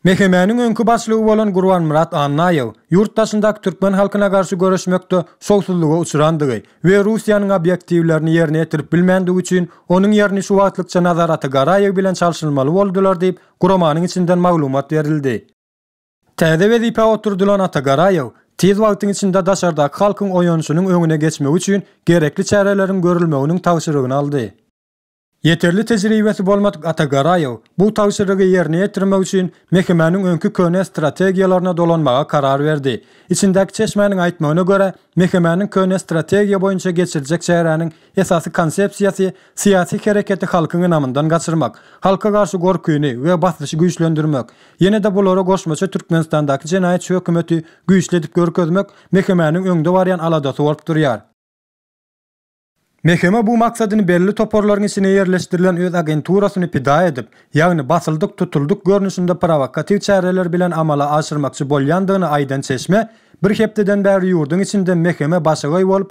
Mehemäniň öňki başlygy bolan Gurbanmyrat Annaýew ýurt daşyndaky türkmen halkyna garşy göreşmekde şowsuzlyga uçrandygy we Russiýanyň obýektiwlerini ýerine ýetirip bilmändigi üçin onuň ýerini şu wagtlykça Nazar Atagaraýew bilen çalşylmaly boldular diýip, guramanyň içinden maglumat berildi. Täze wezipä oturdylan Atagaraýew tiz wagtyň içinde daşardaky halkyň oýanyşynyň öňüne geçmegi üçin gerekli çäreleriň görülmeginiň tabşyrygyny aldy. Ýeterli tejribesi bolmadyk Atagaraýew bu tabşyrygy ýerine ýetirmek üçin mekemäniň öňki köne strategiýalaryna dolanmaga karar berdi. Içindäki çeşmäniň aýtmagyna görä, mekemäniň köne strategiýa boýunça geçirjek çäräniň Esasy konsepsiýasy, syýasy hereketi halkyň ynamyndan gaçyrmak, halka garşy gorkyny we basyşy güýçlendirmek, ýene-de bulara goşmaça Türkmenistandaky jenaýatçy hökümeti güýçli edip görkezmek MHM-niň öňde barýan aladasy bolup durýar. MHM bu maksadyny belli toparlaryň içine ýerleşdirilen öz agenturasyny pida edip, ýagny basyldyk, tutuldyk görnüşinde prowokatiw çäreler bilen amala aşyrmakçy bolýandygyny aýdan çeşme, bir hepdeden bäri ýurduň içinde MHM başagaý bolup,